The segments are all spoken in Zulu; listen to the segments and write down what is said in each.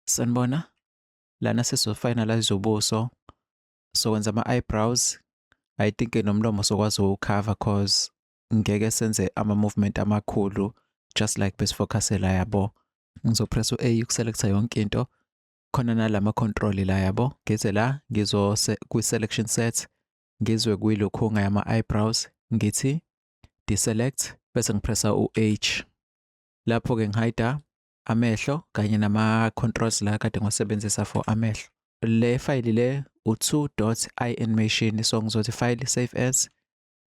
Sanibona. Lana sizofinalize ubuso. Sokwenza ama-eyebrows. I think nomlomo sokwazi ukukhava cause ngeke senze ama-movement amakhulu just like besifocusse la yabo. Ngizopress u-A ukuselecta yonke into. Khona nala ma-control la yabo. Ngize la ngizo kwi-selection set ngizwe kwilokhunga yama-eyebrows ngithi deselect bese ngipressa u-H. Lapho-ke ngihayida amehlo kanye nama-controls la kade ngiwasebenzisa for amehlo le fayili le u-2 dot i-animation so ngizothi file save as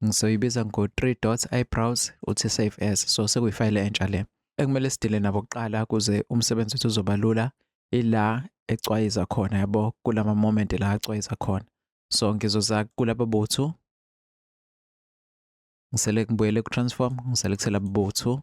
ngizoyibiza ngo-3 dot i-browse uthi save as so sekuyifayile entsha le ekumele sidile nabo kuqala kuze umsebenzi wethu uzoba lula ila ecwayiza khona yabo kulama moment la acwayiza khona so ngizoza kulaba bothu ngisele ngibuyele ku-transform ngiselekthela bothu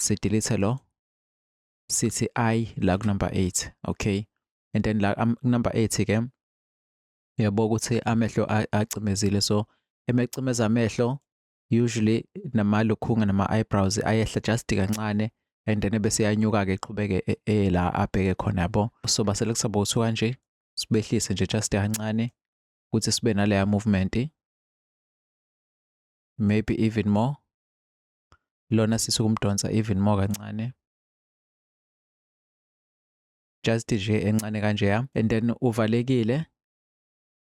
sidelete lo sithi i la kunumber 8 okay and then la number 8 ke uyabo ukuthi amehlo acimezile so emecimeza amehlo usually namalukhunga nama-eyebrows ayehla just kancane and then bese yanyuka-ke iqhubeke e, e, la abheke khona yabo so basele kusaba ukuthi kanje sibehlise nje just kancane ukuthi sibe naleya movement maybe even more lona sisi ukumdonsa even more kancane just nje encane kanje ya and then uvalekile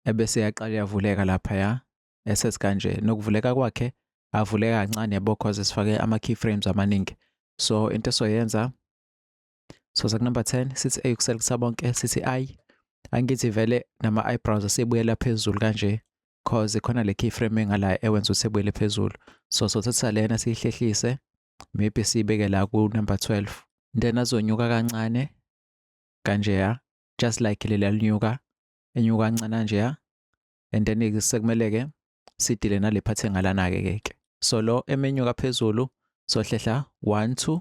ebese yaqala yavuleka lapha ya eses kanje nokuvuleka kwakhe avuleka kancane yabo cause sifake ama keyframes amaningi so into esoyenza so sa number 10 sithi a ukuselekisa bonke sithi i angithi vele nama eyebrows asebuyela phezulu kanje cause khona le keyframe engala ewenza ukuthi ebuyele phezulu so so thatha lena siyihlehlise maybe siyibeke la ku number 12 then azonyuka kancane kanje ya just like leli alinyuka enyuka kancane kanje ya and then sekumele ke sidile nale part engalana ke ke so lo emenyuka phezulu sohlehla 1 2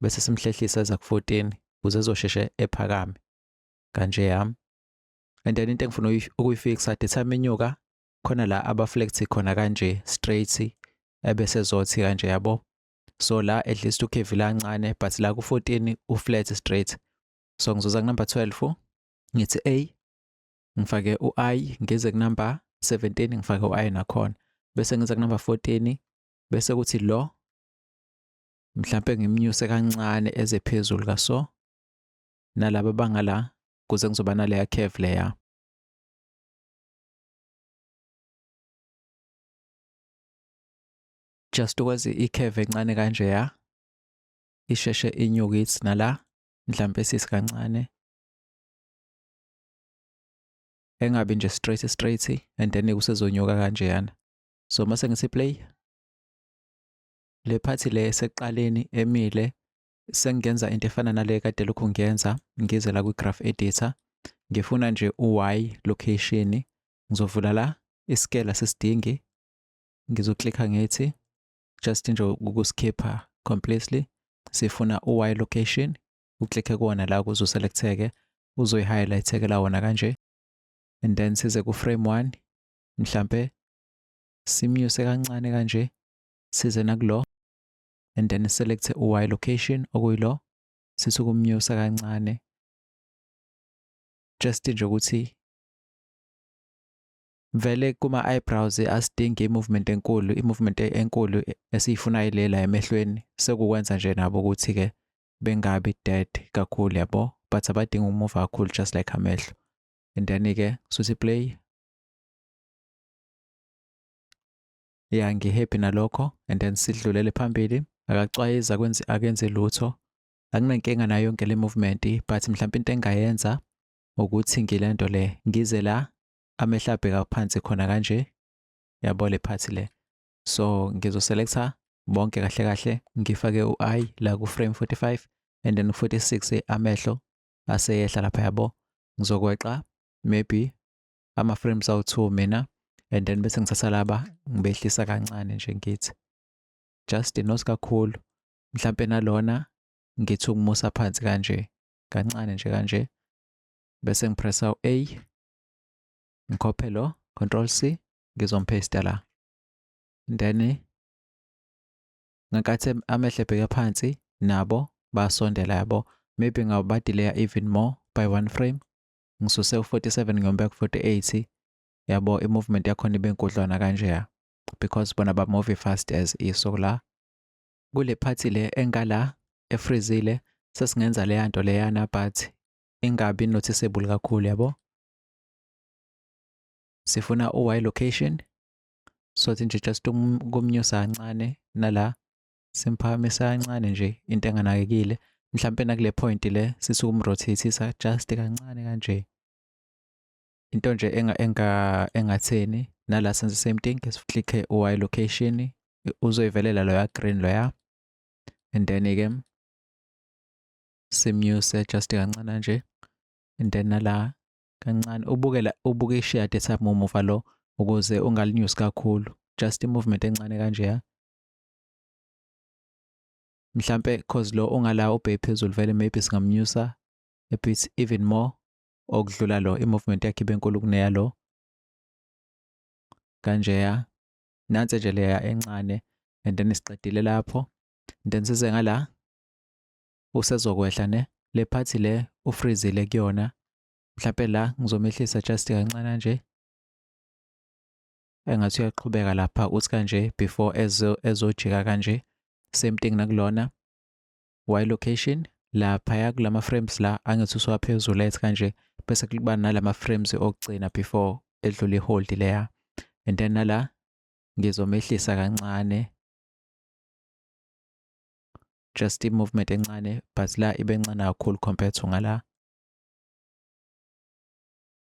bese simhlehlisa eza ku-14 ukuze ezosheshe ephakame kanje yami and then into engifuna ukuyifixa the time inyuka khona la abaflect khona kanje straight ebese zothi kanje yabo so la at least ukhevi lancane but la ku-14 uflat straight so ngizoza kunumber 12 ngithi a ngifake u-i ngize kunumber 17 ngifake u-i nakhona bese ngiza kunumber 14 bese kuthi lo mhlampe ngimnyuse kancane eze phezulu kaso nalaba bangala kuze ngizoba naleya curve leya just ukwazi i-curve encane kanje ya isheshe inyuke ithi nala mhlampe sisi kancane engabi nje straight straight and then kusezonyuka kanjeyana so mase ngisi play le phathi le esekuqaleni emile sengenza into efana nale kade lokhu ngiyenza ngize la kwi-graph editor ngifuna nje u-y location ngizovula la isikela sesidingi ngizoklikha ngithi just nje ukusikhipha completely sifuna u-y location uklikhe kuwona la kuze uselektheke uzoyi-highlightekela wona kanje and then size ku-frame one mhlampe simnyuse kancane kanje size nakulo and then select u-y location okuyilo sisukumnyusa kancane just nje ukuthi vele kuma eyebrows asidingi imovement enkulu imovement enkulu esiyifunayo lela emehlweni sekukwenza nje nabo ukuthi ke bengabi dead kakhulu yabo but abadingi ukumuva kakhulu just like amehlo and then ke suthi play ya ngihappy nalokho and then sidlulele phambili akacwayiza kwenzi akenze lutho anginankinga nayo yonke le movement but mhlawumbe into engayenza ukuthi ngilento le ngize la amehla abheka phansi khona kanje yabo le phathi le so ngizoselector bonke kahle kahle ngifake u-i la ku-frame 45 and then 46 amehlo aseyehla lapha yabo ngizokweqa maybe ama frames awu two mina and then bese ngithatha laba ngibehlisa kancane nje ngithi just not kakhulu mhlampe nalona ngithi ukumusa phansi kanje kancane nje kanje bese ngipressa u-a ngikhophe lo control c ngizomphesta la then ngenkathi amehlo ebheke phansi nabo basondela yabo maybe ngabadileya even more by one frame ngisuse u-47 ngiyomubeka ku-48 yabo i-movement yakhona ibe nkudlwana kanjeya because bona bamove fast as iso la kule phathi le engala efrizile sesingenza leya nto leyana but ingabi noticeable kakhulu yabo sifuna u-y location sothi nje just kumnyusa kancane nala simphakamisa kancane nje into enganakekile mhlampe nakule point le sisukumrothethisa just kancane kanje into nje enga enga engatheni nala senze same thing siflicke y location uzoyivelela loya green loya and then ke simnyuse just kancane nje and then nala kancane ubukela ubuke ishade samuva lo ukuze ungalinyusi kakhulu just i movement encane kanje ya mhlampe cause lo ongala ubheke phezulu vele maybe singamnyusa a bit even more okudlula lo i-movement yakhe ibenkulu kuneya lo kanjeya nansi nje leya encane and then siqedile lapho then size ngala usezokwehla ne le phathi le ufreezile kuyona mhlawumbe la ngizomehlisa just kancane nje engathi uyaqhubeka lapha uthi kanje before ezo ezojika kanje same thing nakulona y location lapha ya kulama frames la angithi usuwaphezulu ethi kanje bese kuba nalama frames okugcina before edlula ihold leya and then nala ngizomehlisa kancane just i-movement encane but la ibe ncane kakhulu compared to ngala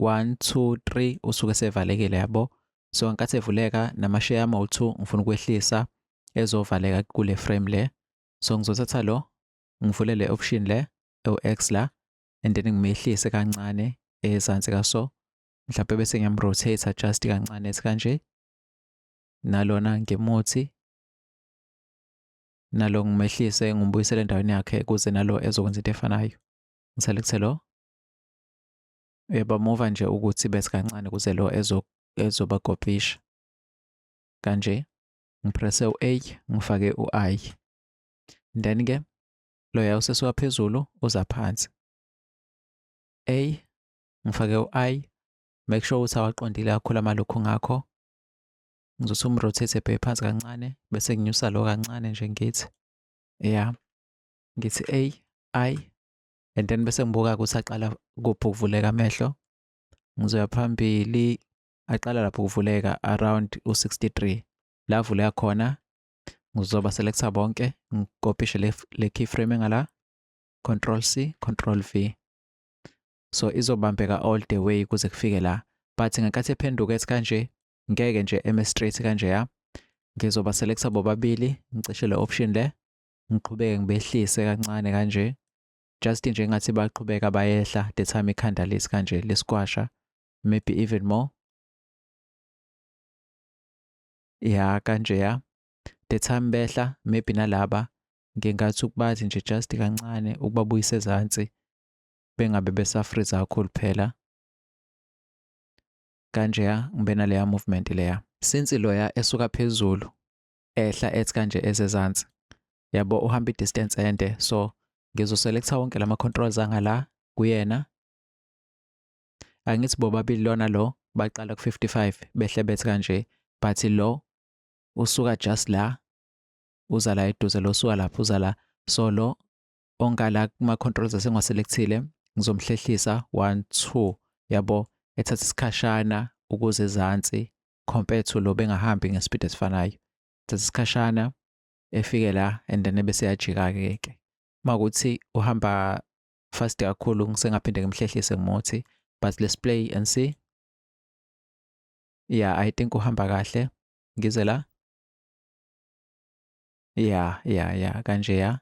1 2 3 usuke sevalekile yabo so ngenkathi evuleka namasheya ama u2 ngifuna ukwehlisa ezovaleka kule frame le so ngizothatha lo ngivule le option le ewu-x la and then ngimehlise kancane ezansi kaso mhlawumbe bese ngiyamrotate just kancane esikanje nalona ngimuthi nalo ngimehlise ngimbuyisele endaweni yakhe kuze nalo ezokwenza into efanayo ngiselekte lo Uyabamuva nje ukuthi bese kancane kuze lo ezobakopisha. Kanje ngiprese u-A ngifake u-I. Then ke loya usesuka phezulu uza phansi. A ngifake u-I make sure ukuthi awaqondile kakhulu amalokhu ngakho ngizothi umrotate ebheke phansi kancane bese nginyusa lo kancane nje ngithi ya ngithi a i and then bese ngibuka ukuthi aqala kuphi ukuvuleka amehlo ngizoya phambili aqala lapho ukuvuleka around u-63 la avuleka khona ngizoba selector bonke ngikopishe le, le keyframe ngala control c control v so izobambeka all the way kuze kufike la but ngenkathi ephenduka ethi kanje ngeke nje eme straight kanje ya ngizoba selector bobabili ngicishe le option le ngiqhubeke ngibehlise kancane kanje just nje ngathi baqhubeka bayehla the time ikhanda lesi kanje lesikwasha maybe even more ya kanje ya the time behla maybe nalaba ngenkathi ukubathi nje just kancane ukubabuyisa ezansi bengabe besafriza kakhulu phela kanje ya ngibe naleya movement leya since loya esuka phezulu ehla ethi kanje ezezansi yabo uhamba i-distance ende so ngizoselecta wonke lama controls angala kuyena angithi bobabili lona lo baqala ku-55 behle bethi kanje but lo usuka just la uza la eduze lo usuka lapho uza la so lo ongala kuma-controls asengiwaselekthile ngizomhlehlisa 1 2 yabo ethatha isikhashana ukuze ezansi compare to lo bengahambi ngespeed esifanayo thatha isikhashana efike la and then bese yajika ke ke makuthi uhamba fast kakhulu ngisengaphinde ngimhlehlise ngimuthi but let's play and see yeah i think uhamba kahle ngize la yeah yeah yeah kanje ya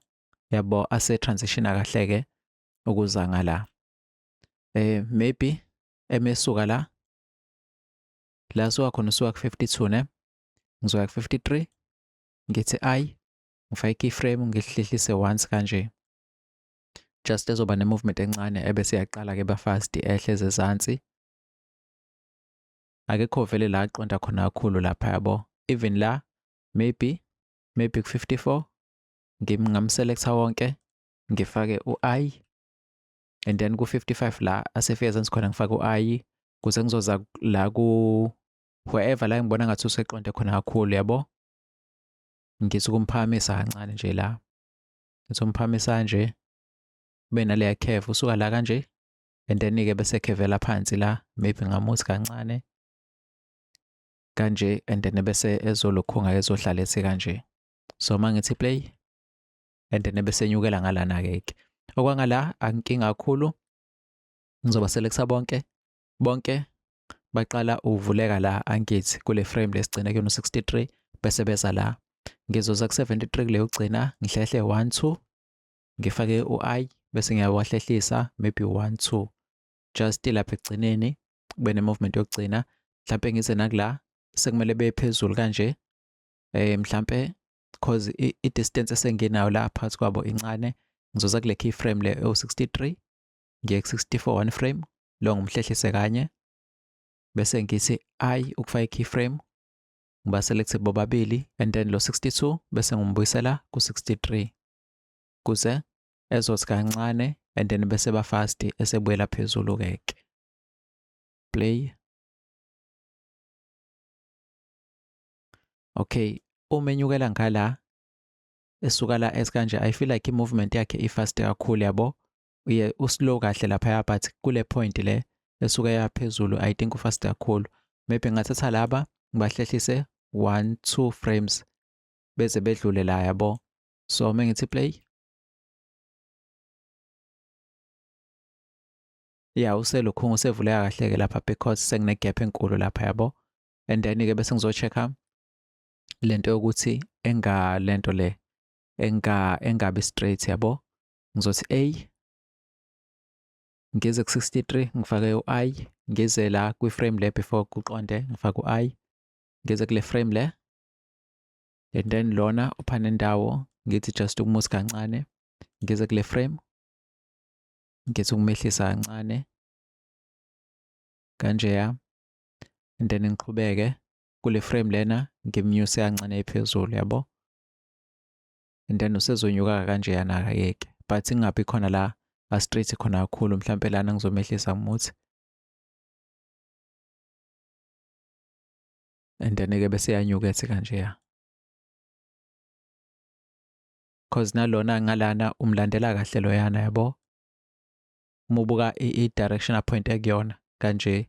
yabo ase transition kahle ke ukuza ngala eh maybe emesuka la la suka khona usuka ku-52 ne ngizoya ku-53 ngithi i ngifake keyframe ngihlehlise once kanje just ezoba ne-movement encane ebese yaqala ke bafast ehle zezansi akekho vele la aqonda khona kakhulu lapha yabo even la maybe maybe ku-54 ngingamselektha wonke ngifake u-i and then ku-55 la asefika sensi khona ngifake u-ayi kuze ngizoza la ku wherever la ngibona ngathi useqonde khona kakhulu yabo ngithi ukumphakamisa kancane nje la ngithi umphakamisa nje kube naleya curve usuka la kanje and then-ke bese khevela phansi la maybe ngamuthi kancane kanje and then bese ezolokhunga ezohlala ethi kanje so uma ngithi play and then ebesenyukela ngalana ke ke okwangala ankinga kakhulu ngizoba selekisa bonke bonke baqala uvuleka la angithi kule frame lesigcina kuyona 63 bese beza la ngizoza ku 73 kuleyo gcina ngihlehle 1 2 ngifake u i bese ngiyawahlehlisa maybe 1 2 just lapha ekugcineni kube ne movement yokugcina mhlambe ngize nakula sekumele bephezulu kanje eh mhlambe because i-distance esenginayo la phakathi kwabo incane ngizoza kule key frame le ewu-63 ngiye ku-64 one frame lo ngimhlehlise kanye bese ngithi i ukufaka i-key frame ngibaselekthi bobabili and then lo 62 bese ngimbuyisela ku-63 kuze ezothi kancane and then bese bafasti esebuyela phezulu keke play okay uma enyukela ngala esuka la esikanje i feel like i-movement yakhe i-fast kakhulu yabo uye uslow kahle laphaya but kule point le esuka yaphezulu i think ufast kakhulu maybe ngathatha laba ngibahlehlise 1 2 frames beze bedlule la yabo so uma ngithi play ya uselukhungu usevuleka kahle-ke lapha because sengine-gap enkulu lapha yabo and then ke bese ngizochecka lento yokuthi enga lento le enga engabi straight yabo ngizothi a ngize ku 63 ngifake u i ngize la kwi frame le before kuqonde ngifake u i ngize kule frame le and then lona uphana indawo ngithi just ukumusa kancane ngize kule frame ngithi ukumehlisa kancane kanjeya and then ngiqhubeke kule frame lena ngimnyuse kancane phezulu yabo and then usezonyuka kanjeyana akayeke but ingabi khona la astraight khona kakhulu mhlampe lana ngizomehlisa ngimuthi and then ke bese yanyukethe kanjeya cause nalona ngalana umlandela kahle loyana yabo uma ubuka i-direction aphointe kuyona kanje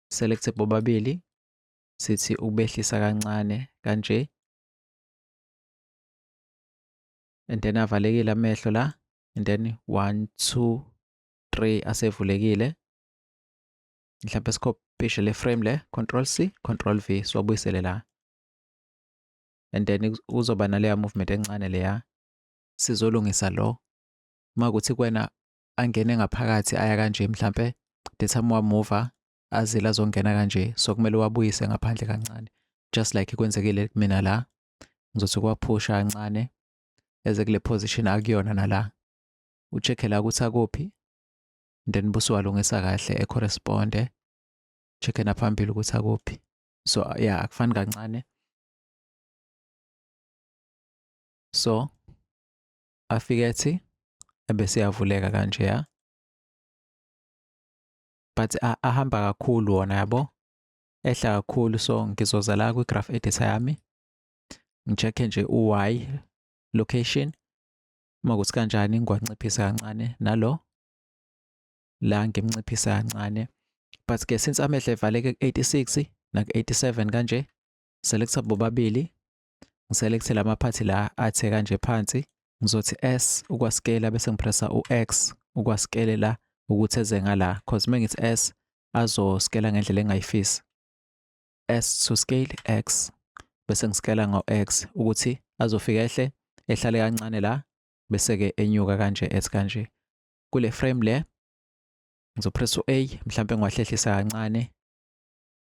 select bobabili sithi ukubehlisa kancane kanje and then avalekile amehlo la and then 1 2 3 asevulekile mhlawumbe sikhopishe le frame le control C control V siwabuyisele la and then uzoba naleya movement encane leya sizolungisa lo uma kuthi kwena angene ngaphakathi aya kanje mhlampe the time wamuva azile azongena kanje so kumele wabuyise ngaphandle kancane just like kwenzekile kumina la ngizothi kwaphusha kancane eze kule position akuyona nala ucheckhe la ukuthi akuphi then busuwalungisa kahle ecorresponde checkhe naphambili ukuthi akuphi so ya yeah, akufani kancane so afike ethi ebese yavuleka kanje ya but ahamba kakhulu wona yabo ehla kakhulu so ngizoza la kwi-graph editor yami ngi-check-e nje u-y location uma kuthi kanjani ngiwanciphisa kancane nalo la ngimnciphisa kancane but ke since amehla evaleke ku-86 naku-87 kanje selecta bobabili ngiselekte la maphathi la athe kanje phansi ngizothi s ukwaskela bese ngipressa u-x ukwaskele la ukuthi eze ngala cause uma ngithi s azoskela ngendlela engayifisi s to scale x bese ngiskela ngo-x ukuthi azofika ehle ehlale kancane la bese-ke enyuka kanje as kanje kule frame le ngizopressa u-a mhlawumbe ngiwahlehlisa kancane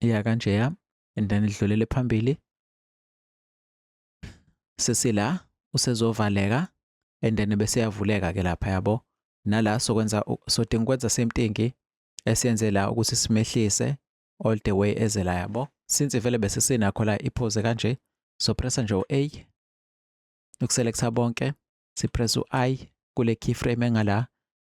ya kanjeya and then idlulele phambili sesila usezovaleka and then bese yavuleka ke lapha yabo nala sokwenza sodinga ukwenza same thing esiyenze la ukuthi simehlise all the way eze la yabo since vele bese sinakho la iphoze kanje so pressa nje u-a ukuselecta bonke sipressa u-i kule keyframe engala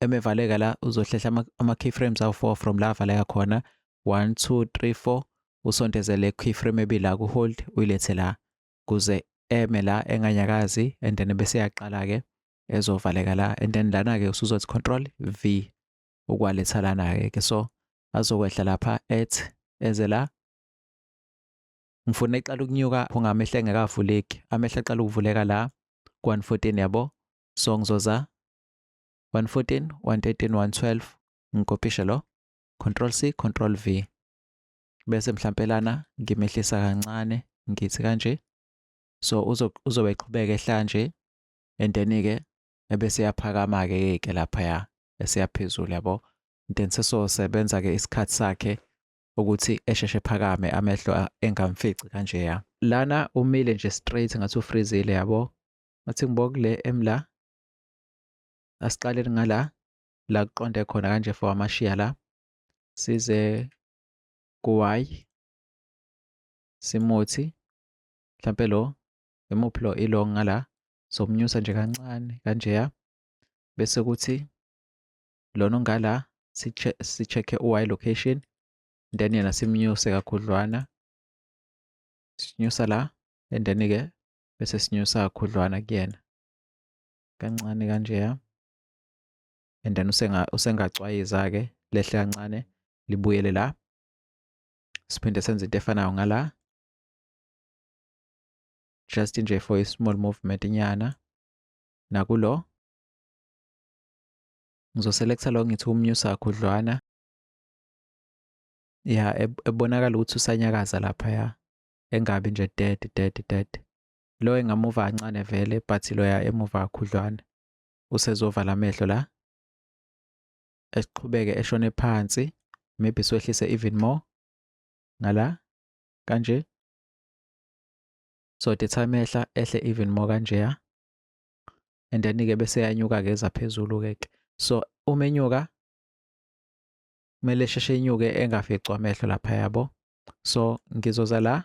emevaleka la uzohlehla ama, ama keyframes awu 4 from la avaleka khona 1 2 3 4 usontezele keyframe ebila ku hold uyilethe la kuze eme la enganyakazi and then bese yaqala ke ezovaleka la and then lana ke usuzothi control v ukwaletha lana ke ke so azokwehla lapha at eze la ngifuna iqala ukunyuka ungamehla engekavuleki amehla aqala ukuvuleka la ku-114 yabo so ngizoza 114, 113, 112 ngikopishe lo control C control V bese mhlampe lana ngimehlisa kancane ngithi kanje so uzo uzobe eqhubeka ehla nje and then ke ebese yaphakama ke ke lapha ya esiyaphezulu yabo then sesosebenza ke isikhathi sakhe ukuthi esheshe phakame amehlo engamfici kanje ya lana umile nje straight ngathi ufreezile yabo ngathi ngibokule emla asiqaleli ngala la kuqonde khona kanje for amashiya la size ku-y simuthi mhlampe lo imuphi lo ilo ngala somnyusa nje kancane kanjeya bese kuthi lona ongala si-check-e u-y location then yena simnyuse kakhudlwana sinyusa la and then-ke bese sinyusa kakhudlwana kuyena kancane kanjeya and then usenga usengacwayiza ke lehle kancane libuyele la siphinde senze into efanayo ngala just nje for a small movement nyana nakulo ngizoselecta lo ngithi umnyusa khudlwana ya ebonakala ukuthi usanyakaza lapha ya engabi nje dead dead dead Lo engamuva kancane vele but loya emuva kakhudlwana usezovala amehlo la. Esiqhubeke eshone phansi maybe siwehlise even more ngala kanje. So the time ehla ehle even more kanjeya. And then ke bese yanyuka ke eza phezulu ke. So uma enyuka kumele sheshe inyuke engaficwa amehlo lapha yabo. So ngizoza la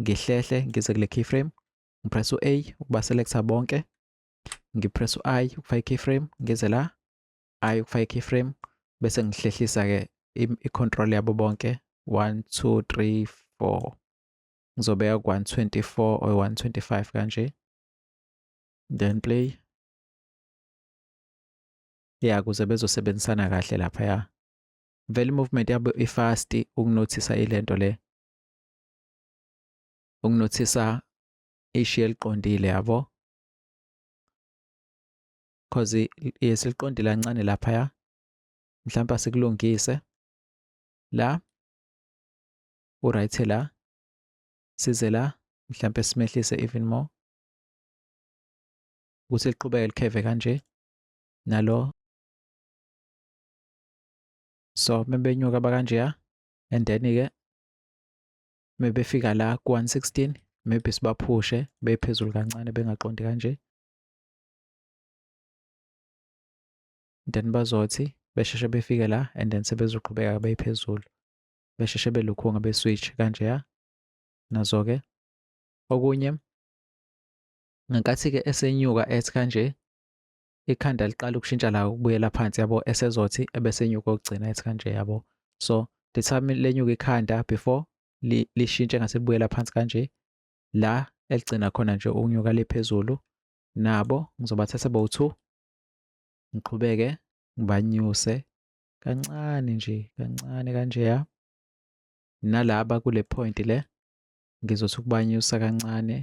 ngihlehle ngize kule keyframe ngipress u-a ukuba selecta bonke ngipress u-i ukufaka i-keyframe ngize la i ukufaka i-keyframe bese ngihlehlisa-ke i-control yabo bonke 1 2 3 4 ngizobeka ku-124 or 125 kanje then play ya kuze bezosebenzisana kahle laphaya vele i-movement yabo ifasti ukunothisa ilento le ukunothisa ishi eliqondile yabo cause yesiliqondile kancane laphaya mhlawumbe sikulungise la uright la size la mhlawumbe simehlise even more ukuthi liqhubeke likheve kanje nalo so mebenyuka bakanjeya and then-ke mebefika la ku 116 maybe sibaphushe bephezulu kancane bengaqondi kanje then bazothi besheshe befike la and then sebezoqhubeka beyiphezulu besheshe belukhunga beswitch kanje ya nazo-ke okunye ngenkathi-ke esenyuka ethi kanje ikhanda liqala ukushintsha la ukubuyela phansi yabo esezothi ebesenyuka ukugcina ethi kanje yabo so the time lenyuka ikhanda before lishintshe ngase libuyela phansi kanje la eligcina khona nje ukunyuka liphezulu nabo ngizobathatha bowu-2 ngiqhubeke ngibanyuse kancane nje kancane kanjeya nalaba kule point le ngizothi ukubanyusa kancane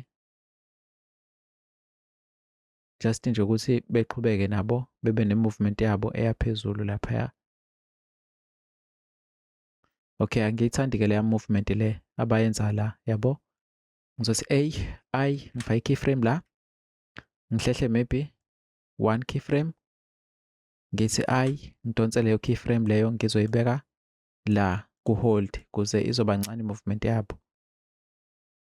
just nje ukuthi beqhubeke nabo bebe ne-movement yabo eyaphezulu laphaya okay angiyithandi ke leya movement le abayenza la yabo ngizothi a i ngifake i-keyframe la ngihlehle maybe one keyframe ngithi i ngidonse leyo keyframe leyo ngizoyibeka la ku-hold kuze izoba ncane i-movement yabo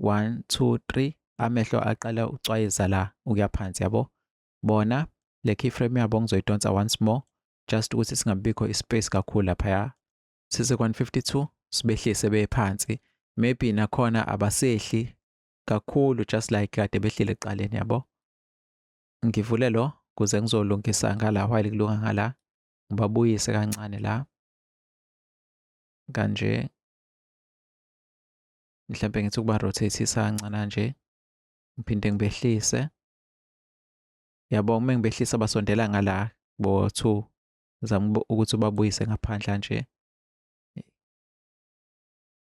1 2 3 amehlo aqala ucwayisa la ukuya phansi yabo bona le keyframe yabo ngizoyidonsa once more just ukuthi singabikho ispace kakhulu lapha ya sise 152 sibehlise bephansi maybe nakhona abasehli kakhulu just like kade behlile eqaleni yabo ngivule lo kuze ngizolungisa ngala while kulunga ngala ngibabuyise kancane la kanje mhlawumbe ngithi ukuba rotate-isa kancana nje ngiphinde ngibehlise yabo uma ngibehlisa basondela ngala bo two zama ukuthi ubabuyise ngaphandle nje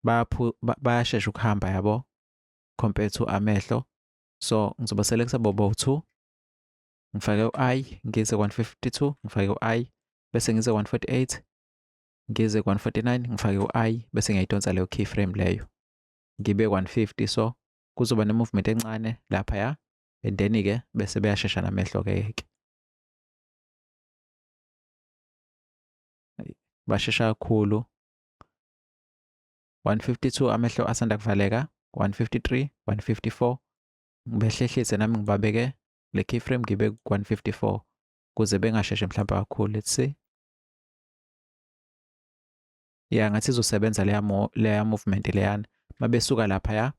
baphu bayashesha ukuhamba yabo compared to amehlo so ngizoba selekisa bobo two ngifake u-i ngize 152 ngifake u-i bese ngize 148 ngize ku-149 ngifake u-i bese ngiyayidonsa leyo keyframe leyo ngibe 150 so kuzoba ne-movement encane lapha ya and then-ke bese beyashesha namehlo-ke ke bashesha kakhulu 152 amehlo asanda kuvaleka 153 154 ngibehlehlise nami ngibabeke le keyframe ngibe ku-154 kuze bengasheshe mhlawumbe kakhulu let's see ya ngathi izosebenza leya mo leya movement leyana mabesuka lapha ya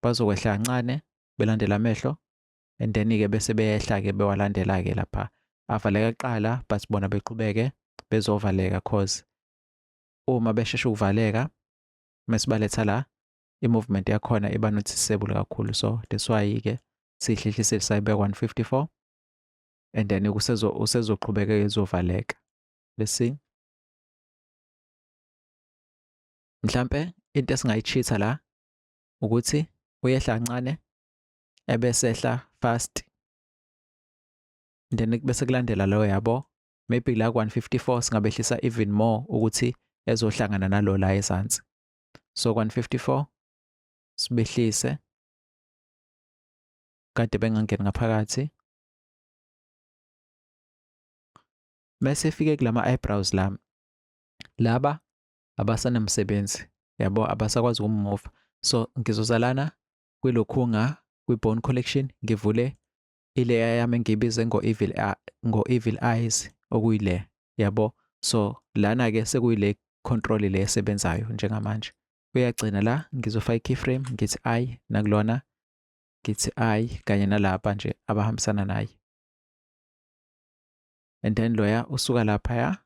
bazokwehla kancane belandela amehlo and then ke bese beyehla ke bewalandela ke lapha avaleka kuqala but bona beqhubeke bezovaleka cause uma besheshe ukuvaleka mesibaletha la i-movement yakhona iba noticeable kakhulu so that's why ke siyihlehlise sayibeka 154 and then kusezo usezoqhubeka izovaleka let's see mhlambe into esingayichitha la ukuthi uyehla kancane ebesehla fast then bese kulandela lo yabo maybe la ku-154 singabehlisa even more ukuthi ezohlangana nalo la ezansi so ku-154 sibehlise kade bengangeni ngaphakathi mase efike kulama eyebrows lami laba abasanamsebenzi yabo abasakwazi ukumova so ngizozalana kwilokhunga kwi-bone collection ngivule ileya yami engiyibize ngo-evil ngo-evil eyes okuyile yabo so lana-ke sekuyile control le esebenzayo njengamanje uyagcina la ngizofaka i-keyframe ngithi i nakulona ngithi i kanye nalapha nje abahambisana naye and then loya usuka lapha ya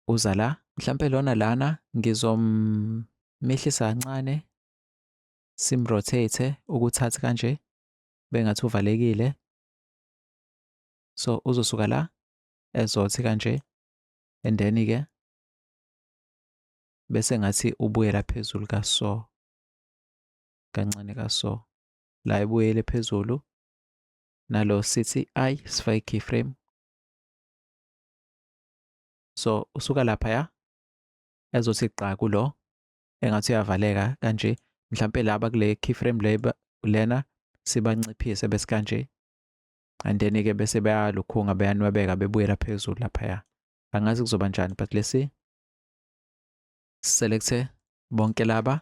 uza la mhlampe lona lana ngizommehlisa kancane simrotate ukuthatha kanje bengathi uvalekile so uzosuka la ezothi kanje and then ke bese ngathi ubuyela phezulu ka so kancane ka so la ebuyele phezulu nalo sithi i sifake keyframe so usuka lapha ya ezothi gqa kulo engathi uyavaleka kanje mhlampe laba kule keyframe le lena sibanciphise bese kanje and then ke bese bayalukhunga beyanwebeka bebuyela phezulu lapha ya angazi kuzoba njani but lesi selecte bonke laba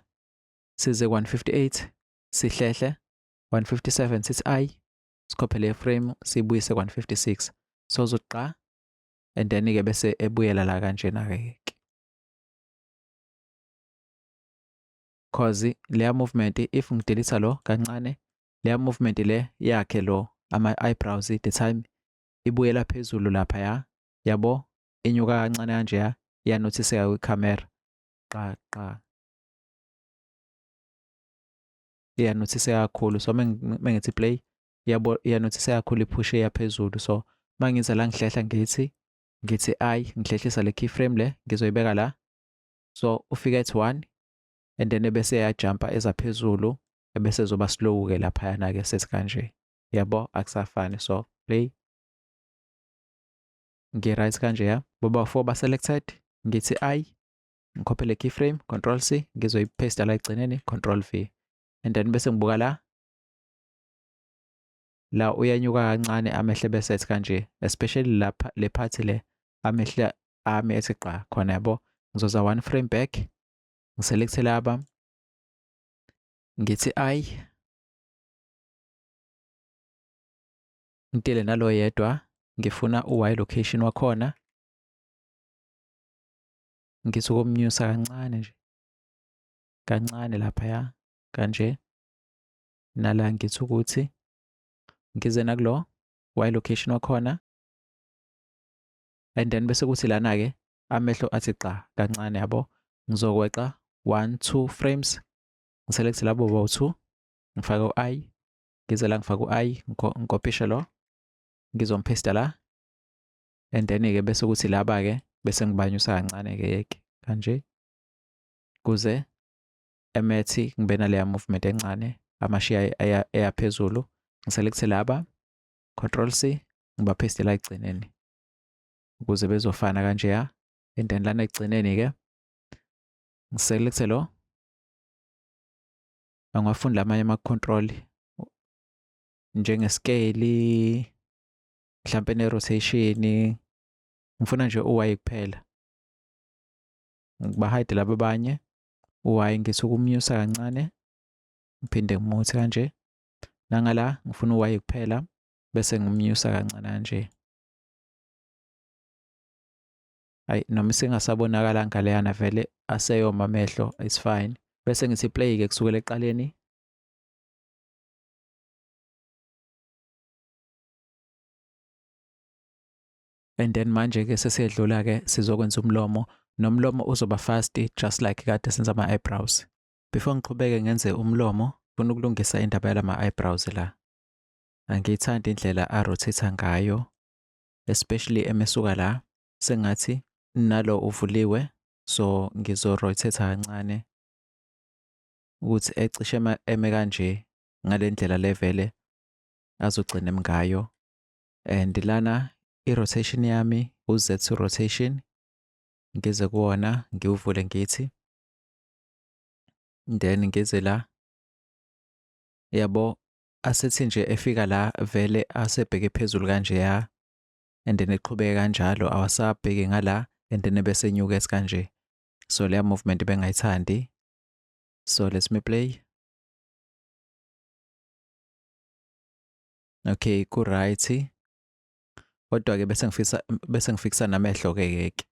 size 158 sihlehle 157 sithi i sikhophele iframe sibuyise ku-156 so uzoqa and then ke bese ebuyela la kanjena ke cause leya movement if ngidelisa lo kancane leya movement le yakhe lo ama eyebrows the time ibuyela phezulu lapha ya yabo inyuka kancane kanje ya yanothiseka kwicamera qa qa iyanothiseka kakhulu so mengithi play yabo iyanothiseka kakhulu iphushe yaphezulu so mangiza la ngihlehla ngithi ngithi i ngihlehlisa le keyframe le ngizoyibeka la so ufika ethi 1 and then ebese yajumpa eza phezulu ebese zoba slow ke lapha yana ke sethi kanje yabo akusafani so play ngi right kanje ya boba 4 ba selected ngithi i ngikhophe le keyframe control c ngizoyipaste la egcineni control v and then bese ngibuka la la uyanyuka kancane amehle bese ethi kanje especially lapha le part le amehle ami ethi gqa khona yabo ngizoza one frame back ngiselecte laba ngithi i ngitele nalo yedwa ngifuna u-y location wakhona Ngithi ukomnyusa kancane nje. Kancane laphaya kanje. Nala ngithi ukuthi ngize nakulo y location wakhona and then bese kuthi lana ke amehlo athi gqa kancane yabo ngizokweqa 1 2 frames ngiselect labo bo 2 ngifake u-i ngize la ngifake u-i ngikopishe lo ngizompesta la and then ke bese kuthi laba ke bese ngibanyusa kancane ke yeke kanje kuze emethi ngibe naleya movement encane amashiya eyaphezulu ngiselekuthe laba control C ngiba paste la egcineni ukuze bezofana kanje ya and then lana egcineni ke ngiselekuthe lo angafunda amanye ama control njenge scale mhlampe ne rotation ngifuna nje uwaye kuphela ngibahide laba abanye uwaye ngisuke umnyusa kancane ngiphinde ngimuthi kanje nangala ngifuna uwaye kuphela bese ngimnyusa kancane kanje ayi noma isingasabonakala ngaleyana vele aseyoma amehlo is fine bese ngithi play ke kusukela eqaleni and then manje ke sesiyedlula ke sizokwenza umlomo nomlomo uzoba fast just like kade senza ama eyebrows before ngiqhubeke ngenze umlomo funa ukulungisa indaba yalama eyebrows la angiyithandi indlela a rotate ngayo especially emesuka la sengathi nalo uvuliwe so ngizo rotate kancane ukuthi ecishe eme kanje ngalendlela levele azogcina emngayo and lana i-rotation yami u-z2 rotation ngize kuwona ngiwuvule ngithi then ngize la yabo asethi nje efika la vele asebheke phezulu kanje ya and then eqhubeke kanjalo awasabheki ngala and then bese enyuka esikanje so leya movement bengayithandi so let's me play Okay ku right. Kodwa ke bese ngifisa bese ngifikisa namehlo ke keke.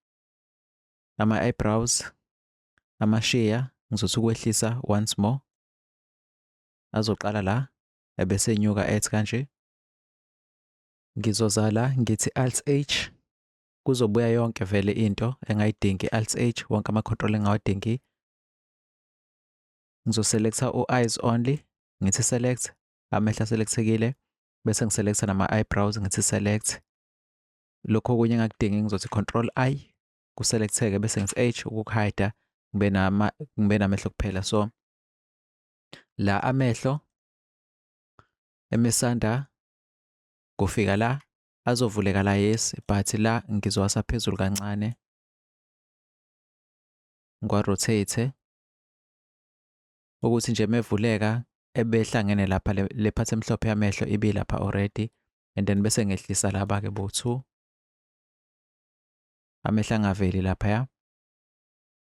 Ama eyebrows ama sheer ngizothi ukwehlisa once more. Azoqala la ebese nyuka ethi kanje. Ngizoza la ngithi alt H kuzobuya yonke vele into engayidingi alt H wonke ama control engawadingi ngizoselecta u-eyes only ngithi select amehla selectekile bese ngiselecta nama-eyebrows ngithi select lokho okunye engakudingi ngizothi control i kuselecteke bese ngithi h ukukuhayida ngibe nama ngibe namehlo kuphela so la amehlo emisanda kufika la azovuleka la yes but la ngizowasa phezulu kancane ngiwa-rotate ukuthi nje mevuleka ebehlangene lapha le part emhlophe yamehlo ibilapha already and then bese ngehlisa laba ke bo-two amehla angaveli laphaya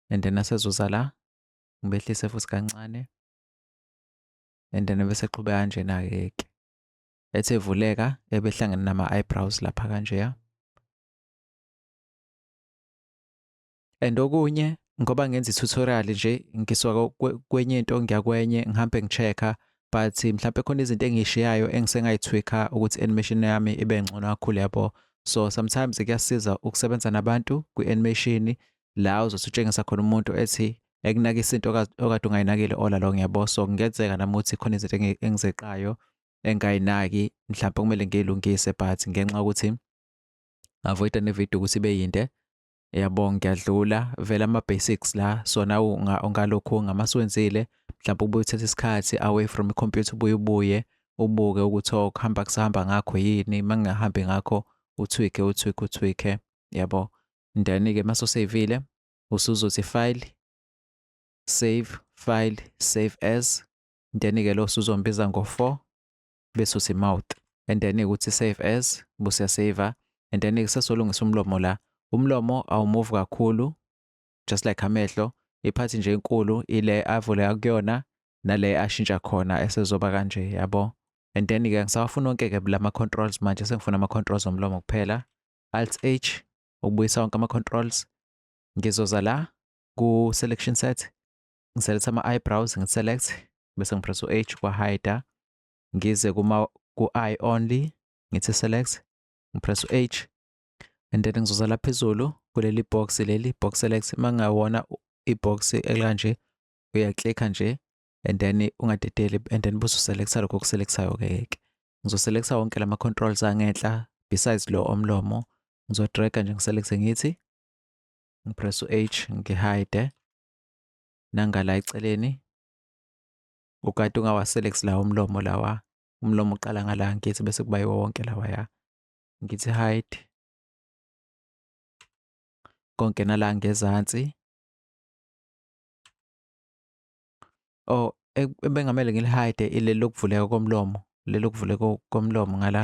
and then asezuza la ngibehlise futhi kancane and then bese qhube kanjena ke ke ethe vuleka ebehlangene nama eyebrows lapha kanjeya and okunye ngoba ngenza i-tutorial nje ngisuka kwenye into ngiya kwenye ngihambe ngi-check-a but mhlawumbe khona izinto engiyishiyayo engisengayithwikha ukuthi animation yami ibe ngcono kakhulu yabo so sometimes kuyasiza ukusebenza nabantu kwi-animation la uzothi utshengisa khona umuntu ethi ekunakisa into okade ungayinakile all along yabo so kungenzeka nami ukuthi khona izinto engizeqayo engayinaki mhlawumbe kumele ngiyilungise but ngenxa yokuthi avoida nevidiyo ukuthi ibe yinde yabo ngiyadlula vele ama-basics la sona ungalokhu ungama siwenzile mhlawumbe ubuye uthethe isikhathi away from ikhompyutha ubuye ubuye ubuke ukuthi oh, kuhamba kusahamba ngakho yini uma ngingahambi ngakho uthwike uthwike uthwike yabo ndani-ke uma soseyivile usuzothi file save file save as ndani-ke lo usuzombiza ngo-four bese uthi mouth and then ukuthi save as buse saver and then kusesolungisa umlomo la umlomo awumove kakhulu just like amehlo iphathi nje enkulu ile avule akuyona nale ashintsha khona esezoba kanje yabo and then ke ngisawafuna onke ke la ma controls manje sengifuna ama controls omlomo kuphela alt h ukubuyisa wonke ama controls ngizoza la ku selection set ngiselect ama eyebrows ngi select bese ngipress u H kwa hide ngize kuma ku eye only ngithi select ngipress u H and then ngizoza lapha phezulu kuleli box leli box select mangawona ibox ekanje uya click nje and then ungadedeli and then busu selecta lokho kuselectayo ke yeke ngizo selecta wonke lama controls angenhla besides lo omlomo ngizo drag nje ngiselecte ngithi ngipress u H ngihide nangala eceleni ukade ungawaselect la umlomo lawa umlomo uqala ngala ngithi bese kuba yiwo wonke lawa ya ngithi hide konke nala ngezansi oh e, ebengamele ngilihide ileli lokuvuleka komlomo leli lokuvuleka komlomo ngala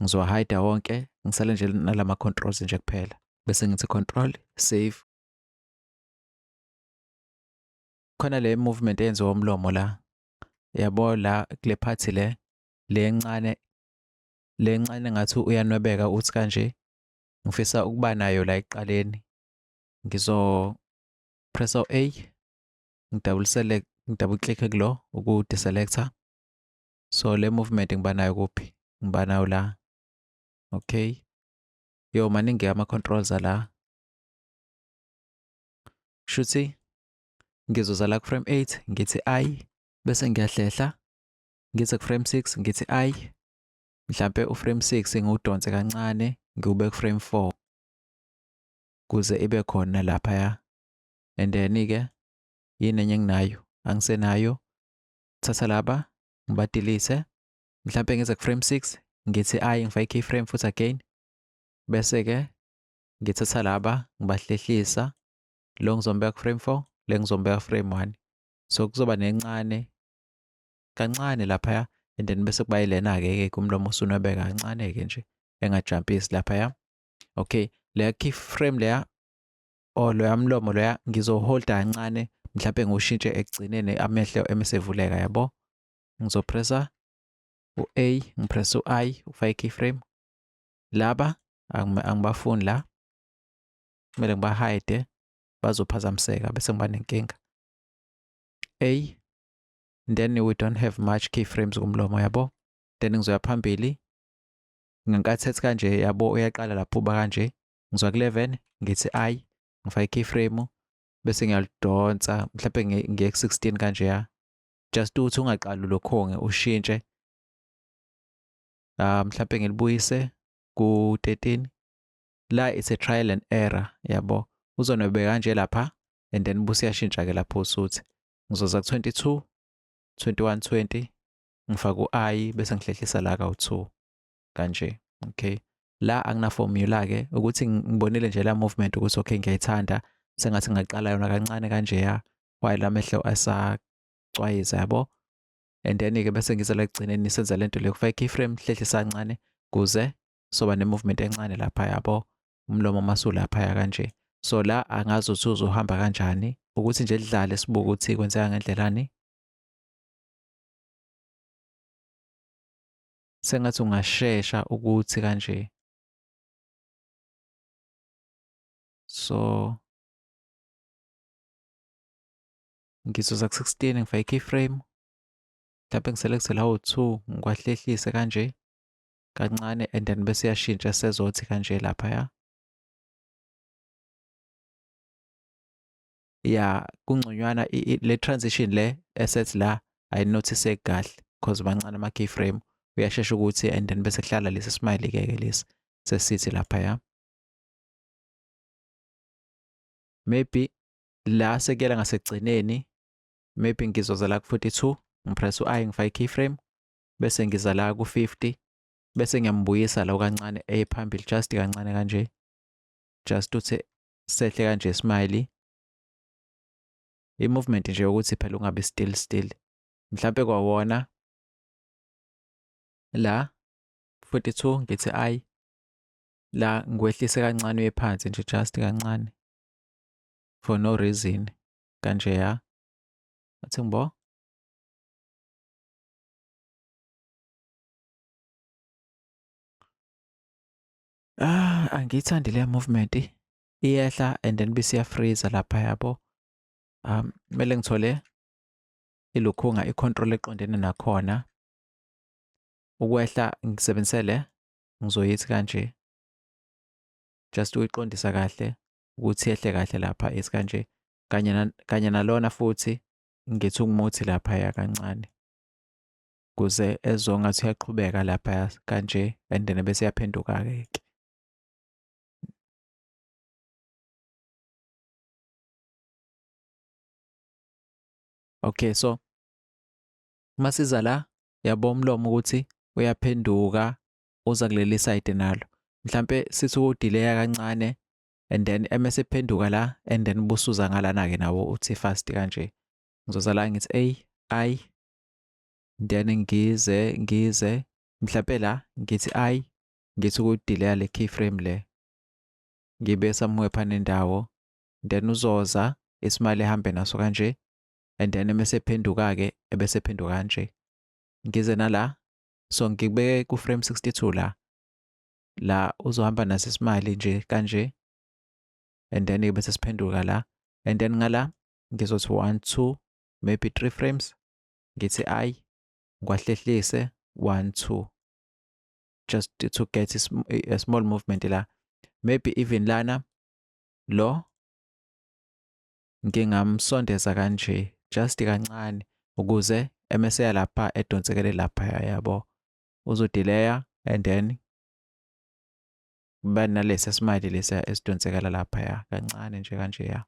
ngizowahayida wonke ngisale nje nalama controls nje kuphela bese ngithi control save khona le movement eyenziwa umlomo la yabo la kule part le le encane le encane ngathi uyanwebeka uthi kanje ngifisa ukuba nayo la ekuqaleni ngizo press u A ngidouble select ngidouble click kulo uku deselector so le movement ngiba nayo kuphi ngiba nayo la okay yo maningi ama-controls ala shuthi ngizoza la ku-frame 8 ngithi i bese ngiyahlehla ngize ku-frame 6 ngithi i mhlampe u-frame 6 ngiwudonse kancane ngiwube ku-frame 4 kuze ibe khona laphaya and then-ke yini enye enginayo angisenayo thatha laba ngibadilise mhlampe ngize ku frame 6 ngithi i ngifake keyframe futhi again bese ke ngithatha laba ngibahlehlisa lo ngizombeka ku frame 4 le ngizombeka frame 1 so kuzoba nencane kancane lapha and then bese kuba ilena ke ke kumlomo usunwebeka kancane ke nje engajumpisi lapha ya okay leya keyframe leya or loya mlomo loya ngizoholda kancane mhlawumbe ngiwushintshe ekugcineni amehlo emesevuleka yabo ngizopressa u-a ngipressa u-i ufake i-keyframe laba angibafuni la kumele ngibahide bazophazamiseka bese ngiba nenkinga a then we don't have much keyframes kumlomo yabo then ngizoya phambili ngenkathi ethi kanje yabo uyaqala lapho uba kanje ngizwa ku-11 ngithi ayi ngifake i-keyframe bese ngiyalidonsa mhlawumbe ngiye ku-16 kanje ya just ukuthi ungaqali ulokhonge ushintshe um mhlawumbe ngilibuyise ku-13 la it's a trial and error yabo uzonwebe kanje lapha and then busi yashintsha ke lapho usuthi ngizoza ku-22 21 20 ngifaka u-i bese ngihlehlisa la ka-2 kanje okay la akuna formula ke ukuthi ngibonile nje la movement ukuthi okay ngiyayithanda sengathi ngaqala yona kancane kanje ya while amehlo asacwayiza yabo and then ke bese ngizela ekugcineni senza lento le kufaka keyframe hlehlisa kancane kuze soba ne movement encane lapha yabo umlomo masula lapha ya kanje so la angazi ukuthi uzohamba kanjani ukuthi nje lidlale sibuke ukuthi kwenzeka ngendlelani sengathi ungashesha ukuthi kanje so ngizoza ku-16 ngifake i-keyframe mhlawumbe ngiselekthele awu-two ngikwahlehlise kanje kancane and then bese yashintsha sezothi kanje laphaya ya kungconywana le transition le esethi la ayinothise kahle because mancane ama keyframe uyashesha ukuthi and then bese kuhlala lesi smile ke ke lesi sesithi lapha ya maybe la sekuyela ngasekugcineni maybe ngizoza la ku-42 ngipress u-i ngifake i-keyframe bese ngiza la ku-50 bese ngiyambuyisa la kancane ephambili just kancane kanje just uthi sehle kanje smiley i-movement nje yokuthi phela ungabi still still mhlampe kwawona la 42 ngithi ayi la ngikwehlise kancane uye phansi nje just kancane for no reason kanje ya athi ngibo Ah, angiyithandi leya movement. Iyehla and then bese iyafreeza lapha yabo. Um, kumele ngithole ilukhunga i-control eqondene nakhona. Ukwehla ngisebenzise le ngizoyithi kanje. Just uyiqondisa kahle ukuthi yehle kahle lapha is kanje. Kanye na, kanye nalona futhi ngithi ungumuthi lapha ya kancane. kuze ezwe ngathi uyaqhubeka lapha kanje and then bese yaphenduka-ke ke okay so uma siza la yabo umlomo ukuthi uyaphenduka uza kuleli side nalo mhlampe sithi udileya kancane and then emese phenduka la and then busuza ngalana ke nawo uthi fast kanje ngizoza la ngithi a i then ngize ngize mhlampe la ngithi ayi ngithi ukudileya le keyframe le ngibe somewhere phana indawo then uzoza isimali ehambe naso kanje and then mese phenduka ke ebese phenduka kanje ngize nala so ngibe ku frame 62 la la uzohamba naso isimali nje kanje and then bese siphenduka la and then ngala ngizothi 1 2 maybe 3 frames ngithi ayi ngiwahlehlise one two just to get a small movement la maybe even lana lo ngingamsondeza kanje just kancane ukuze emeseya lapha edonsekele lapha yabo uzodelaya and then kuba nalesi esimali lesiya esidonsekela laphaya kancane nje kanje ya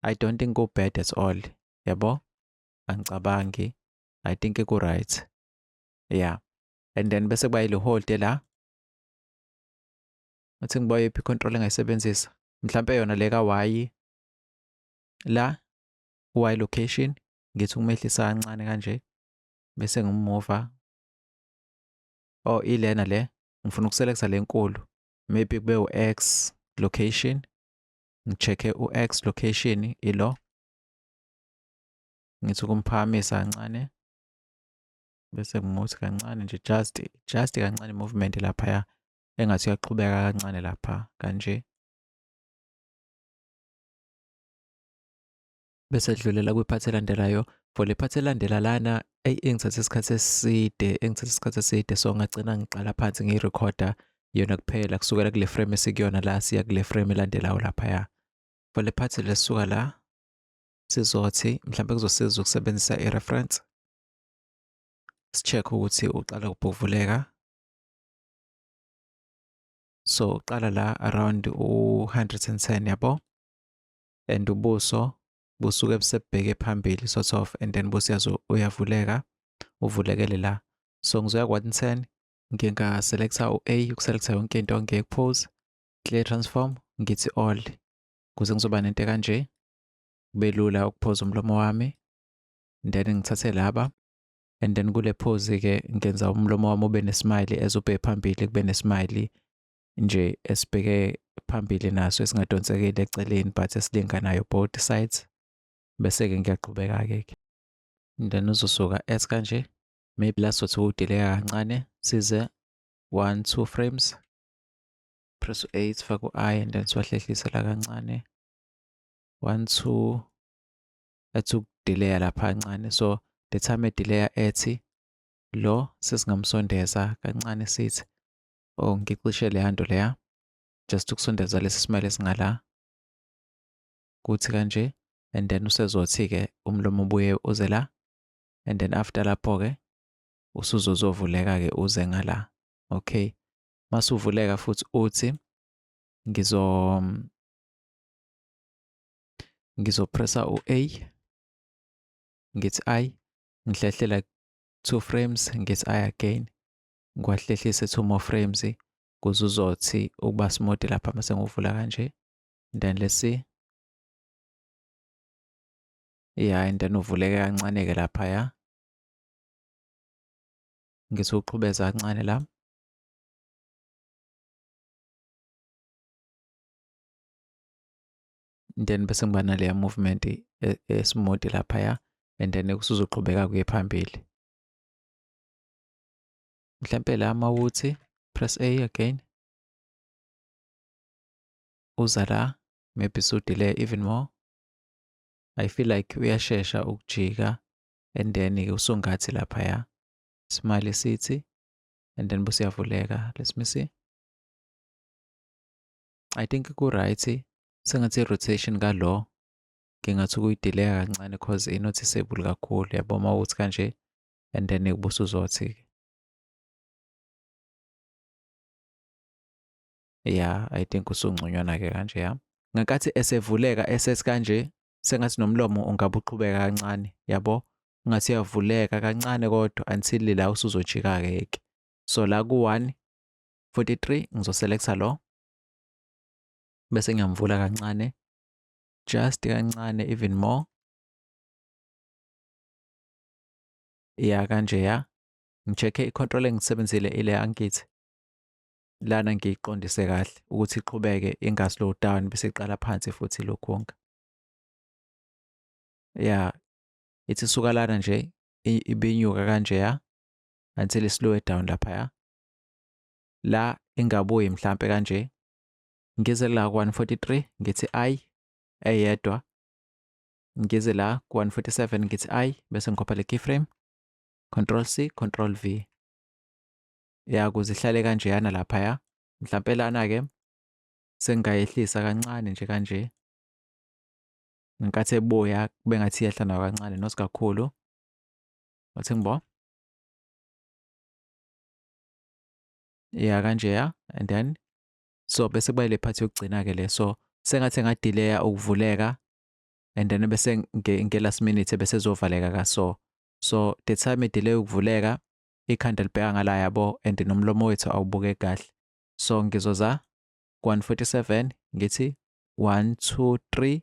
I don't think u bad at all. Yabo? Angicabangi. I think ku right. Yeah. And then bese kuba ile hold la. Uthi ngiba yiphi control engayisebenzisa? Mhlambe yona le ka Y la y location ngithi ukumehlisa kancane kanje bese ngimova oh ilena le ngifuna ukuselekta lenkulu maybe kube u-x location ngi-check-e u-X location ilo. Ngithi ukumphakamisa kancane bese ngimuthi kancane nje just just kancane movement laphaya engathi uyaqhubeka kancane lapha kanje. bese dlulela kwiphathi elandelayo for le phathi elandela lana eyi engithathe isikhathi eside engithathe isikhathi eside so ngagcina ngiqala phansi ngiyirekhoda yona kuphela kusukela kule frame esikuyona la siya kule frame elandelayo laphaya for le phathi lesuka la sizothi mhlawumbe kuzosiza ukusebenzisa i-reference si-check ukuthi uqala kubhuvuleka so uqala la around u-110 yabo and ubuso busuke busebheke phambili sort of and then busiyazi uyavuleka uvulekele la so ngizoya kwa-ten ngingaselekta u-a ukuselekta yonke into ngiyekupose clear transform ngithi all kuze ngizoba nento kanje kube lula ukuphoza umlomo wami then ngithathe laba and then kule phozi ke ngenza umlomo wami ube nesmile ezubhe phambili kube nesmile nje esibheke phambili naso esingadonsekeli eceleni but esilinganayo both sides bese-ke ngiyaqhubeka-ke ke then uzosuka as kanje maybe la sothi udeleka kancane size one two frames press u-8 faka u-i and then siwahlehlise la kancane one two athi ukudileya lapha kancane so the time edileya ethi lo sesingamsondeza kancane sithi or oh, ngicishe leya nto leya just ukusondeza lesi smile esingala kuthi kanje and then usezothi-ke umlomo ubuye uze la and then after lapho-ke usuzozovuleka-ke uze ngala okay masuvuleka futhi uthi ngizo ngizopressa u-a ngithi i ngihlehlela two frames ngithi i again ngiwahlehlise two more frames kuze uzothi ukuba smooth lapha mase ngivula kanje then let's see yeah and then uvuleke kancane ke lapha ya ngithi uqhubeza kancane la then bese ngiba naleya movement esimodi e, laphaya and then kusuzoqhubeka kuye phambili mhlampe la mawuthi press A again uza la maybe so delay even more I feel like uyashesha ukujika and then ke usungathi lapha ya smile sithi and then busiyavuleka let me see I think ku right sengathi rotation ka lo ngingathi ukuyidelaya kancane cause inoticeable kakhulu yabo uma uthi kanje and then ubusuzothi-ke ya i think usungconywana-ke kanje ya ngenkathi esevuleka esethi kanje sengathi nomlomo ungabe uqhubeka kancane yabo ngathi uyavuleka kancane kodwa until la usuzojika-ke yeke so la ku-one 43 ngizoselecta lo bese ngiyamvula kancane just kancane even more ya kanje ya ngicheck i control engisebenzile ile angithi lana ngiyiqondise kahle ukuthi iqhubeke inga slow down bese iqala phansi futhi lokhonka ya ithi suka lana nje ibinyuka kanje ya until i slow down lapha ya la ingabuyi mhlambe kanje ngize la 143 ngithi ayi eyedwa ngize la ku-147 ngithi i bese ngikhopha le keyframe control c control v ya kuze ihlale kanjeyana laphaya mhlampe lana-ke sengingayehlisa kancane nje kanje ngenkathi ebuya kube ngathi iyehla nayo kancane not kakhulu wathi ngibo ya kanjeya and then so bese kuba ile phathi yokugcina-ke le so sengathi engadileya ukuvuleka and then bese nge last minute bese zovaleka ka so so the time delay ukuvuleka ikhanda libheka ngala yabo and nomlomo wethu awubuke kahle so ngizoza 147 ngithi 1 2 3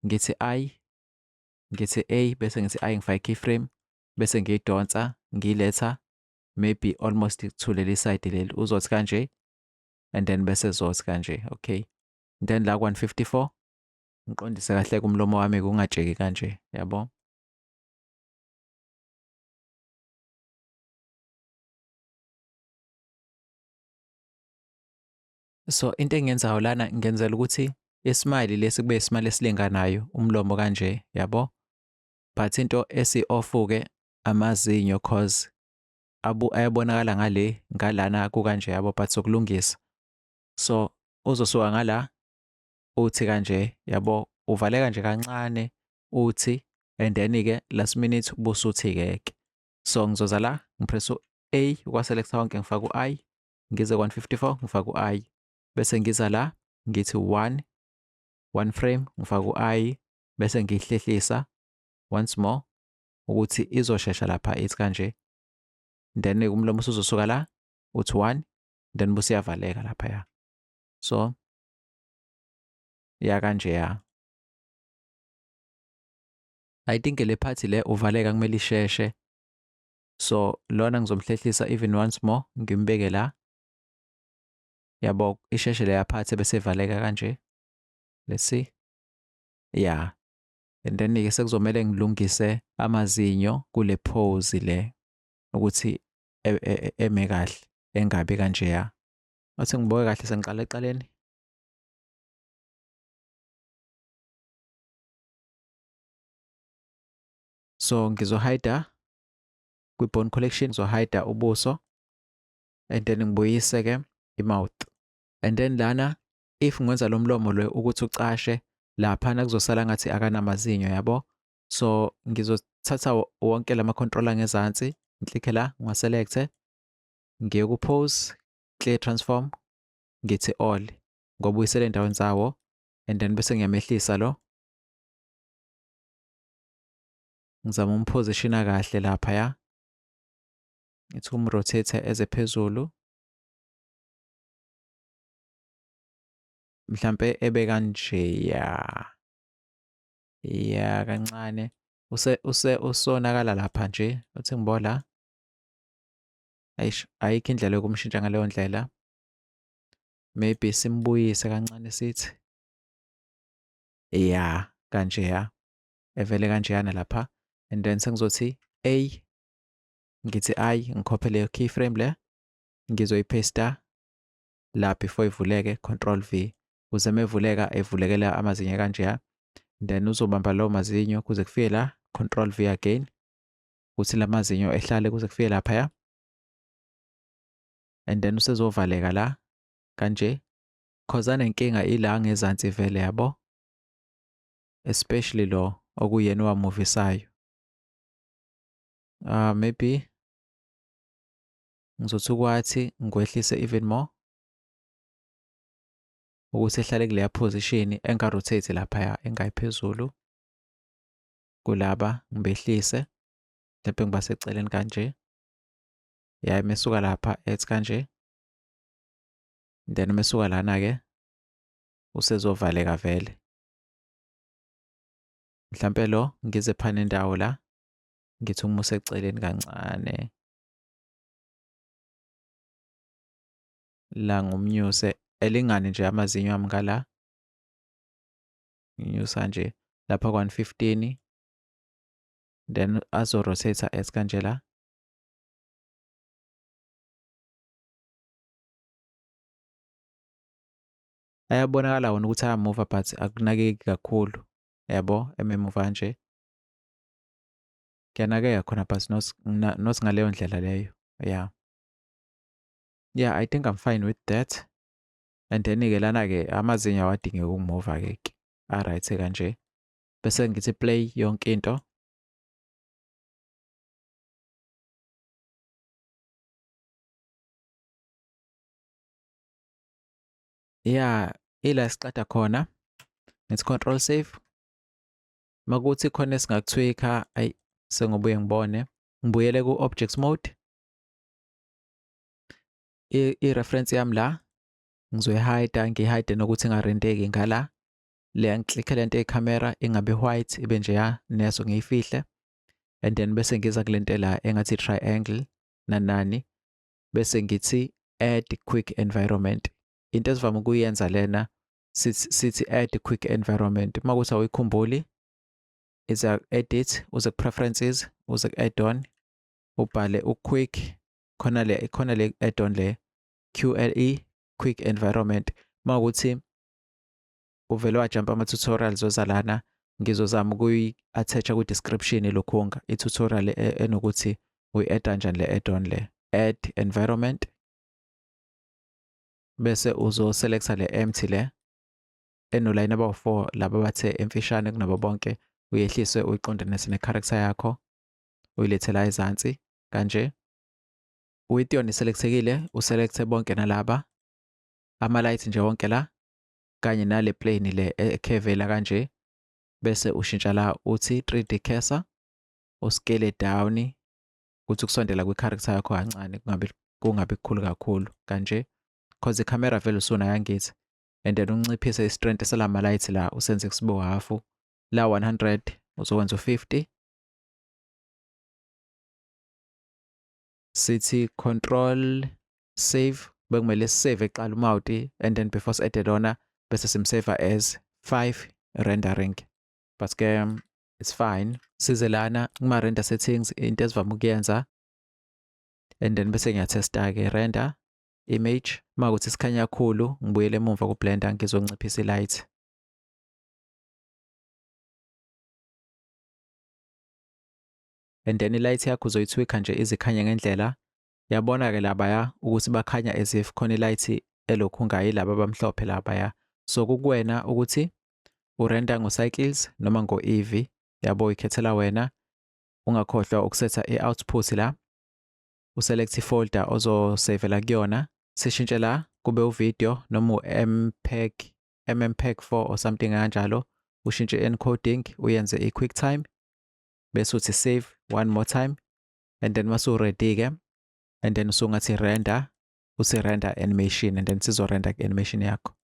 ngithi i ngithi a bese ngithi i ngifake keyframe bese ngiyidonsa ngiyiletha maybe almost to leli side leli uzothi kanje and then bese zothi kanje okay then la 154 ngiqondise kahle kumlomo wami kungatsheki kanje yabo so into engiyenzayo lana ngenzela ukuthi isimali lesi kube isimali esilinganayo umlomo kanje yabo but into esi-ofuke amazinyo cause abu ayabonakala ngale ngalana kukanje yabo but sokulungisa so uzosuka ngala uthi kanje yabo uvaleka nje kancane uthi and then ke last minute busuthi ke ke so ngizoza la ngipress u A kwa selector wonke ngifaka u I ngize 154 ngifaka u I bese ngiza la ngithi 1 one frame ngifaka u I bese ngihlehlisa once more ukuthi izoshesha lapha ithi kanje then umlomo usuzosuka la uthi 1 then busiyavaleka lapha ya so ya kanje ya I think le party le uvaleka kumele isheshe so lona ngizomhlehlisa even once more ngimbeke la yabo isheshe leya party bese ivaleka kanje let's see yeah and then ke sekuzomele ngilungise amazinyo kule pose le ukuthi e, e, e, eme kahle engabi kanjeya Ngathi ngibuke kahle sengiqala eqaleni. So ngizohayida kwi-bone collection, ngizohayida ubuso and then ngibuyise-ke i-mouth. And then lana if ngenza lo mlomo lo ukuthi ucashe laphana kuzosala ngathi akanamazinyo yabo. So ngizothatha wonke lama-controller ngezansi, ngiklikhe la, ngiwa-select-e ngiye ku pose clear transform ngithi all ngobuyisela endaweni zawo and then bese ngiyamehlisa lo ngizama umpositiona kahle lapha ya ngithi umrotate eze phezulu mhlambe ebe kanje ya ya kancane use use usonakala lapha nje uthi ngibola Eish, ayikho indlela yokumshintsha ngaleyo ndlela. Maybe simbuyise kancane sithi. Ya, kanjeya. Evele kanjeyana lapha and then sengizothi A ngithi I ngikhophe leyo keyframe le ngizoyipaster la before ivuleke control V kuze mevuleka evulekela amazinyo kanjeya then uzobamba lawo mazinyo kuze kufike la control V again ukuthi la mazinyo ehlale kuze kufike laphaya and then usezovaleka la kanje cause anenkinga ila ngezansi vele yabo especially lo okuyena owamuvisayo uh, maybe ngizothi ukwathi ngikwehlise even more ukuthi ehlale kuleya position engarotate laphaya engayiphezulu kulaba ngibehlise lapho ngibaseceleni kanje ya mesuka lapha ethi kanje then mesuka lana ke usezovaleka vele mhlampe lo ngize phana indawo la ngithi uma useceleni kancane la ngumnyuse elingane nje amazinyo ami ngala nginyusa nje lapha kwa 115 then azo rotate as kanje la ayabonakala wona ukuthi ayamuva but akunakeki kakhulu yabo ememuva nje kuyanakeka khona but not, not ngaleyo ndlela leyo yeah yeah i think i'm fine with that and then ke lana ke amazinyo awadingeki ukumuva ke ke a right kanje bese ngithi play yonke into yeah ila siqada khona ngithi control save makuthi khona esingakuthwika ayi sengibuye ngibone ngibuyele ku object mode i-reference yami la ngizoyihayida ngihayide nokuthi ingarenteki ngala le ngiklikhe lento eyikhamera ingabe white ibe nje ya neso ngiyifihle and then bese ngiza kulento la engathi triangle nanani bese ngithi add quick environment into esivama ukuyenza lena sithi add quick environment uma kuthi awuyikhumbuli iza edit uze ku preferences uze ku add on ubhale u quick khona le khona le add-on le QLE quick environment mawukuthi uvele wajump ama tutorials ozalana ngizozama ukuyi attach ku description lokhunga i tutorial e, enokuthi uyi add kanjani le add-on le add environment bese uzo selecta le empty le enolayini abawu-4 laba bathe emfishane kunabo bonke uyehlise uyiqondanise ne-character yakho uyilethe la ezansi kanje. Uwition iselekthekile, uselekthe bonke nalaba. Ama-light nje wonke la kanye nale plane le ekhevela kanje bese ushintsha la uthi 3D cursor uskele down ukuthi kusondela kwi-character yakho kancane kungabi kungabi kukhulu kakhulu kanje cause i-camera vele usuna yangithi and then unciphise i-strength selama light la usenze kusibo half la 100 uzokwenza u50 sithi control save bekumele sisave eqala umawuti and then before si added ona bese simsave as 5 rendering but ke um, it's fine size lana kuma render settings into esivama ukuyenza and then bese ngiyatesta ke render image makuthi sikhanya kakhulu ngibuyele emuva ku blender ngizonciphisa light and then ilight yakho uzoyithwikha nje izikhanye ngendlela yabona ke labaya ukuthi bakhanya as if khona ilight elokhu ngayi laba abamhlophe labaya so kukuwena ukuthi urenta ngo-cycles noma ngo-ev yabo uyikhethela wena ungakhohlwa ukusetha i-output la uselect ifolder ozosavela kuyona sishintshe la kube uvideo noma u-mpeg mmpeg 4 or something kanjalo ushintshe i-encoding uyenze i-quicktime bese uthi save one more time and then masu ready ke and then usungathi render uthi render animation and then sizo render animation yakho